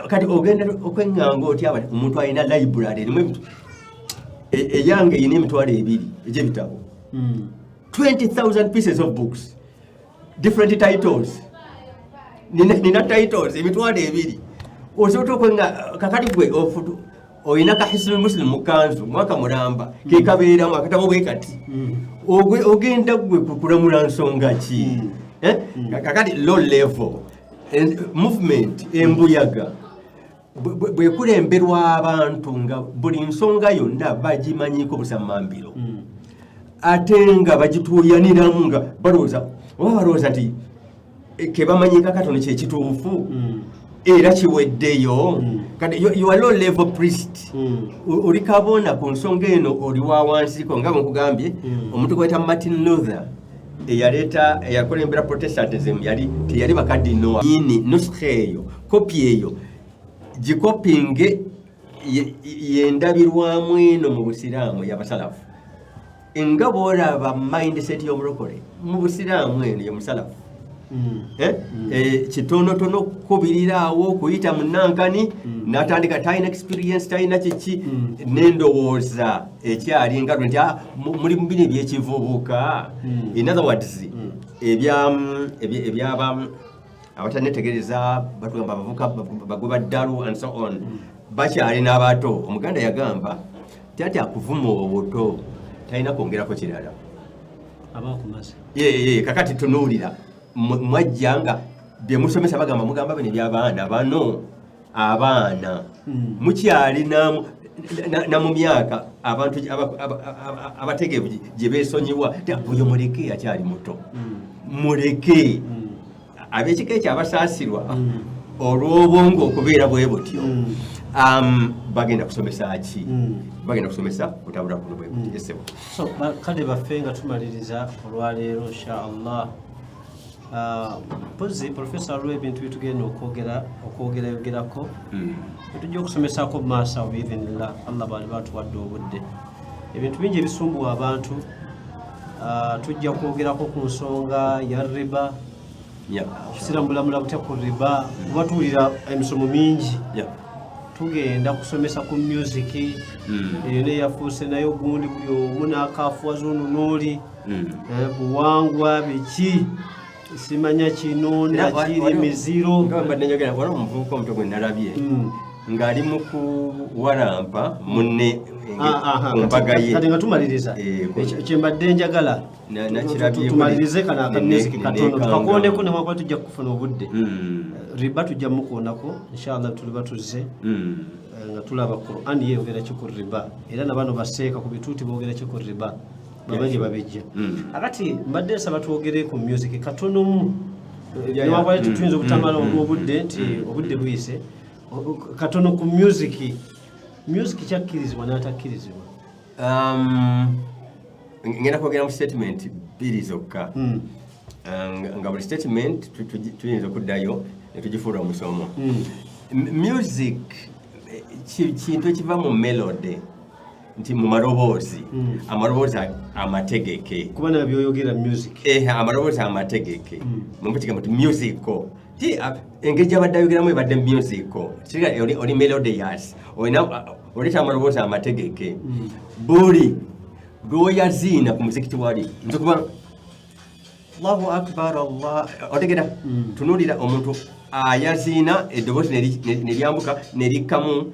kati ogenda okweŋŋanga otya omuntu alina library erimu ebintu e, eyange erina emitwalo ebiri egy'ebitabo 20000 hmm. pieces of books different titles nina titles emitwalo ebiri osobola okwenga kakati gwe ofutu olina ka hisnul muslim mukanzu mwaka mulamba mm. kekabeeramu akatabo bwe kati mm. ogenda gwe kukulamula nsonga ki mm. eh? kakati low level eh, movement embuyaga bwekulemberwa abantu nga buli nsonga yonna bagimanyiko busamambiro ate nga bagituuyaniramu nga balowooza oba balowooza nti eh, kebamanyi kakatono kyekituufu mm. era kiweddeyo mm. kati you are low level priest mm. oli kabona ku nsonga eno oli wa wansiko nga bwekugambye mm. omuntu gweta martin luther eyaleeta eyakulembera protestantism yali teyali bakadinoa ini nuskha eyo kopi eyo gikopinge yendabirwamu eno mu busiraamu yabasalafu nga bwolaba mindset y'obulokole mu busiraamu eno ye musalafu mm. eh? mm. eh, kitonotono kukubirirawo okuyita mu nankani mm. natandika talina experience talina kiki nendowooza ekyali nga nti ah, muli mubino ebyekivubuka in other words ebyaba abatanetegereza batugamba abavuka bagwe baddalu and so on bakyali n'abato omuganda yagamba Tata akuvuma obuto talina kwongerako kirala abakumaze yeye kakati tunuulira mwajja nga bye musomesa bagamba mugamba bino ebyabaana bano abaana hmm. mukyalina na mu myaka abantu abategeevu gye beesonyiwa oyo muleke akyali muto hmm. muleke hmm. ab'ekika ekyo abasaasirwa mm. olw'obwongo okubeera bwe butyo mm. um, bagenda kusomesa ki mm. bagenda kusomesa kutabula kuno bwe kuti esebo so kale baffe nga tumaliriza olwaleero inshaallah uh, mpozi profesa aliwo ebintu byetugenda okwogera okwogerayogerako etujja okusomesako maaso awo biidhinillah allah baali batuwadde obudde ebintu bingi ebisumbuwa abantu ah, tujja kwogerako ku nsonga ya riba obusiraamu bulamula butya ku riba kuba tuwulira emisomo mingi tugenda kusomesa ku music hmm. eyo neyafuuse nayo gundi buli omu nakafuwaza onunuuli hmm. eh, buwangwa biki simanya kinonda kiri miziro ngamba nenyogera wala omuvubuka omuto gwe nalabye hmm. ng'ali mu kuwalampa munne kumbaga ye kati nga tumaliriza eh, kyembadde njagala tumalirize kano akamyeziki katono tukakuwoneko newakuba tujja kufuna obudde hmm. riba tujja mukuwonako inshallah tuliba tuzze hmm. eh, nga tulaba quran yeyogera ki ku riba era nabano baseeka ku bituuti boogera ki ku riba babanye babejja hmm. akati mbadde nsaba twogere ku music katonomu newabale tetuyinza hmm. okutamala hmm. obudde nti obudde buyise katono ku music music kyakkirizibwa n'atakkirizibwa um, ngenda kwogera mu statement bbiri zokka um, nga buli statement tuyinza okuddayo netugifuula omusomo music eh, kintu ekiva mu melody nti mu maloboozi mm. amaloboozi amategeke kuba na byoyogera music eh amaloboozi amategeke mm. mumbutika muti musical ti engeri gyabadde ayogeramu ebadde musical kira oli, oli melodious olina oleta amaloboozi amategeke mm. buli lwoyaziina ku muzikiti wali nze kuba allahu akbar allah otegera mm. tunulira omuntu ayaziina eddoboozi neryambuka nerikkamu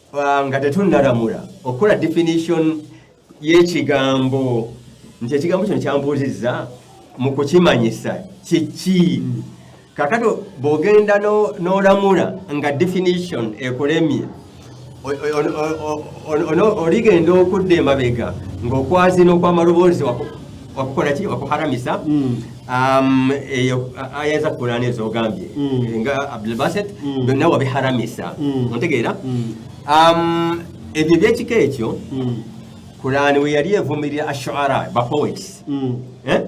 Ah, nga tetunnalamula okukola definition y'ekigambo nti ekigambo kino kyambuuzizza mu kukimanyisa kiki kakati bw'ogenda n'olamula nga definition ekulemye oligenda okudda emabega ng'okwazina okw'amaloboozi wakukola ki wakuharamisa mm. um, eyo aya za kurani ezogambye mm. nga abdulbaset mm. byonna wabiharamisa ontegeera um, ebyo byekika ekyo kurani weyali evumirira ashuara bapoets eh?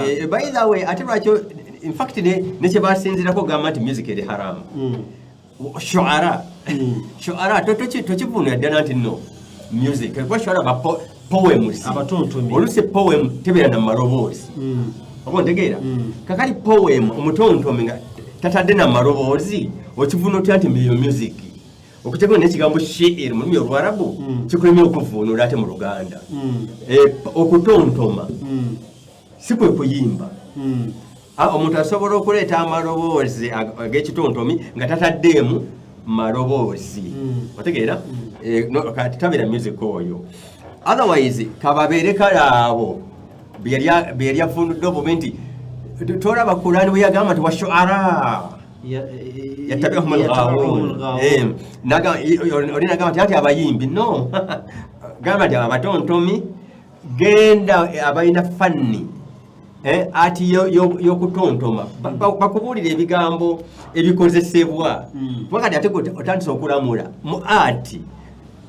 eh, by the way ate lwakyo infact nekyebasinzirako gamba nti music eri haramu shuara hmm. shuara tokivunula ddala nti no music kuba shuara ba poems abatontomi olusi poem tebeera na maloboozi hmm. oba ontegeera hmm. kakali poem omutontomi nga tatadde na maloboozi okivuna otya nti mbiyo music okutegula nekigambo shiir mu lulimi oluwarabu hmm. kikulemye okuvuunula ate mu luganda hmm. eh, okutontoma hmm. si kwe kuyimba hmm. ah, omuntu asobola okuleeta amaloboozi ag'ekitontomi nga tataddeemu maloboozi hmm. otegeera hmm. eh, kati tabeera music oyo otherwise kababeere kale abo beyalyafunudde obubi nti tolaba kulaani bweyagamba nti washuara yatabihum lgawunaoli nagamba nti ati abayimbi no gamba nti abatontomi genda abalina fanni eh, ati yokutontoma bakubuulira ebigambo ebikozesebwa hmm. wakati ate otandisa okulamula mu ati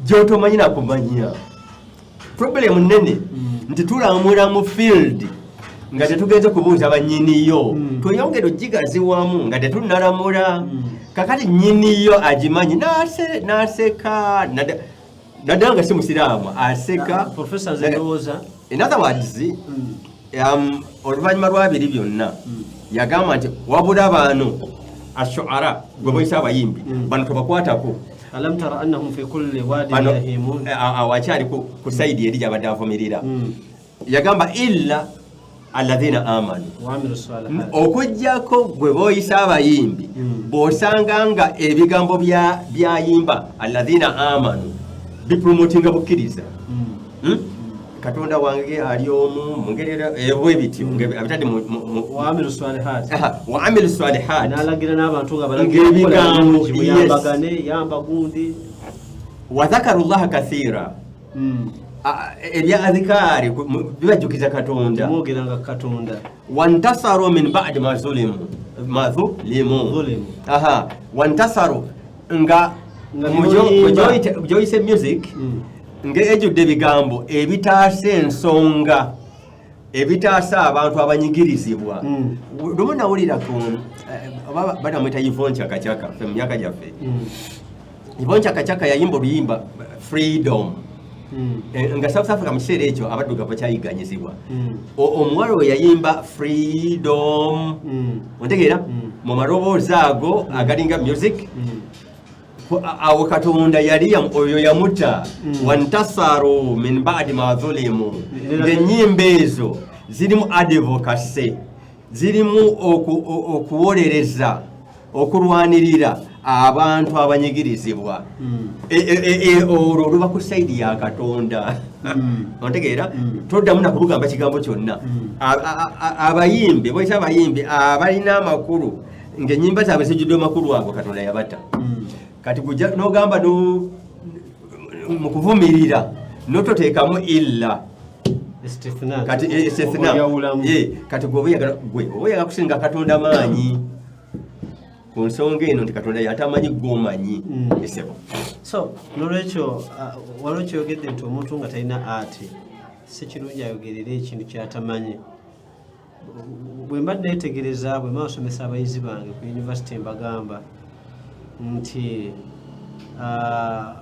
gyotomanyi nakumanya problemu nene hmm. nti tulamula mu field nga tetugenze kubuuza banyiniyo hmm. tweyongere ogigaziwamu nga tetunalamula kakati nyiniyo agimanyi naseka naddala nga si musiraamu aseka professor zendowooza in other words hmm. um, oluvannyuma lwabiri byonna hmm. yagamba nti wabula baano ashuara gwe bayise hmm. abayimbi bano tobakwatako alam tara annahum fi kulli wadin yahimun eh, awakyali ku saidi eri gyabadde avumirira yagamba illa alladhina amanu okujjako gwe boyisa abayimbi hmm. bwosanga nga ebigambo byayimba alladhina amanu bipromotinga bukkiriza hmm. Hmm? katonda wange ali omu mungerera ebwe eh, bityo abitadde wa amilu salihat nalagira n'abantu nga balagira yamba gundi wa dhakaru llaha kathira hmm. ebya adhikaari bibajjukiza katonda mwogeranga katonda wantasaru min badi mazulimu mazulimu aha wantasaru nga gyoyise music hmm. nga ejudde ebigambo ebitaasa ensonga ebitaasa abantu abanyigirizibwa mm. lumu nawulira ku eh, oba banamwita ivonca kacaka fe mu myaka gyaffe mm. ivonca kacaka yayimba oluyimba freedom mm. eh, nga south africa mu kiseera ekyo abadduga bakyayiganyizibwa omuwala oyo yayimba freedom ontegeera mu maloboozi ago agalinga music awo katonda yali oyo yamutta mm. wantasaru min badi mazulimu ngenyimba ezo zirimu advokase zirimu okuwolereza okulwanirira abantu abanyigirizibwa hmm. e, e, e, olwo oluba ku saidi ya katonda hmm. ontegeera hmm. toddamu nakulugamba kigambo kyonna abayimbi boyita abayimbi abalina amakulu ng'ennyimba zaabwe zijjudde makulu ago katonda yabata hmm. kati kuja n'ogamba mu kuvumirira nototeekamu illa kati eh, istithna eh, kati gwe obaoyagala gwe obaoyagala kusinga katonda maanyi ku nsonga eno nti katonda yatamanyi gwomanyi hmm. esebo so nolwekyo uh, waliwo kyoyogedde nti omuntu nga talina ati si kirungi ayogerere ekintu kyatamanyi bwe mba neetegereza bwe mba basomesa abayizi bange ku yunivasite mbagamba nti ah,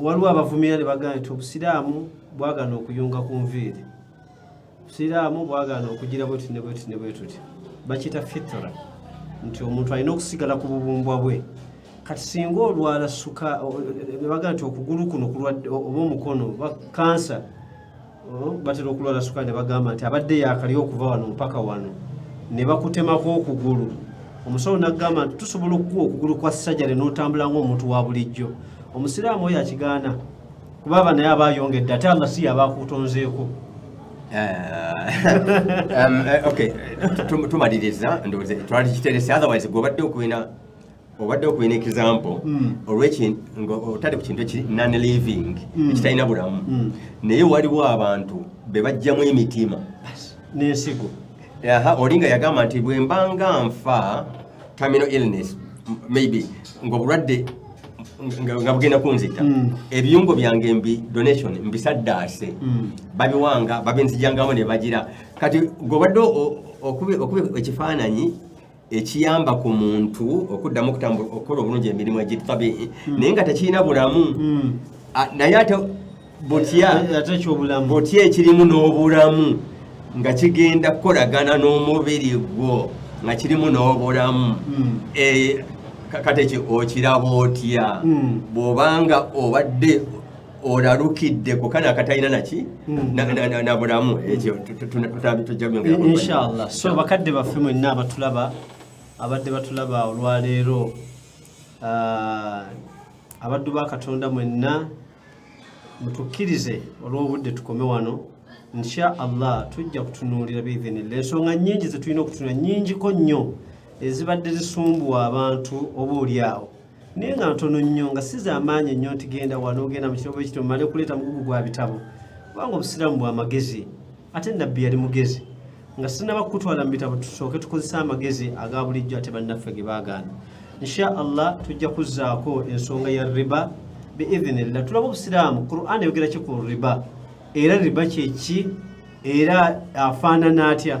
waliwo abavumira ne bagamba nti obusiraamu bwagana okuyunga ku nviiri obusiraamu bwagana okugira bweti ne bweti ne bwetuti bakiyita fitra nti omuntu alina okusigala ku bubumbwa bwe kati singa olwala suka ne bagamba nti okugulu kuno kulwadde oba omukono oba kansa Oh, batera okulwala sukaali nebagamba nti abadde yakalya okuva wano mpaka wano nebakutemako okugulu omusawo nagamba nti tusobola okukuwa okugulu kwa sajare notambula ngaomuntu wa bulijjo omusiraamu oyo akigaana kuba aba naye aba ayongedde ate allah si yaba akutonzeeko eh, um, eh, tumaliriza ndoze twali kiterese otherwise gwobadde okwina obadde okubina ekizampo hmm. olwotadde ku kintu eknonliving hmm. ekitalina bulamu hmm. naye waliwo abantu be bajjamu emitima nensigo olinga yagamba nti bwembanga nfa terminal illness maybe ngaobulwadde nga bugenda kunzita mm. ebiyungo byange mbi donation mbisaddaase mm. babiwanga babinzijangamu nebagira kati gobadde okuba ekifaananyi ekiyamba ku muntu okuddamu okutambula okukola obulungi emirimu egitabi hmm. naye nga tekirina bulamu hmm. naye ate butya butya ekirimu n'obulamu nga kigenda kukolagana n'omubiri gwo nga kirimu n'obulamu hmm. e, kati ekyo okiraba otya bw'obanga obadde olarukidde ku kano akatalina naki hmm. na bulamu ekyo tutambi tujja inshallah so bakadde baffe mwenna abatulaba abadde batulaba olwaleero ah, abaddu ba katonda mwenna mutukkirize olw'obudde tukome wano insha allah tujja kutunuulira biivinilla ensonga nyingi zetulina okutunula nyingiko nnyo ezibadde zisumbuwa abantu oba olyawo naye nga ntono nnyo nga si zamaanyi nnyo nti genda wano ogenda mu kirabo ekityo mumale okuleeta mugugu gwa bitabo kubanga obusiraamu bwa magezi ate nabbi yali mugezi nga sinaba kukutwala mu bitabo tusooke tukozesa amagezi aga bulijjo ate bannaffe ge baagaana insha allah tujja kuzzaako ensonga ya riba biidhinillah tulaba obusiraamu quran eyogeraki ku riba era riba kyeki era afaanana atya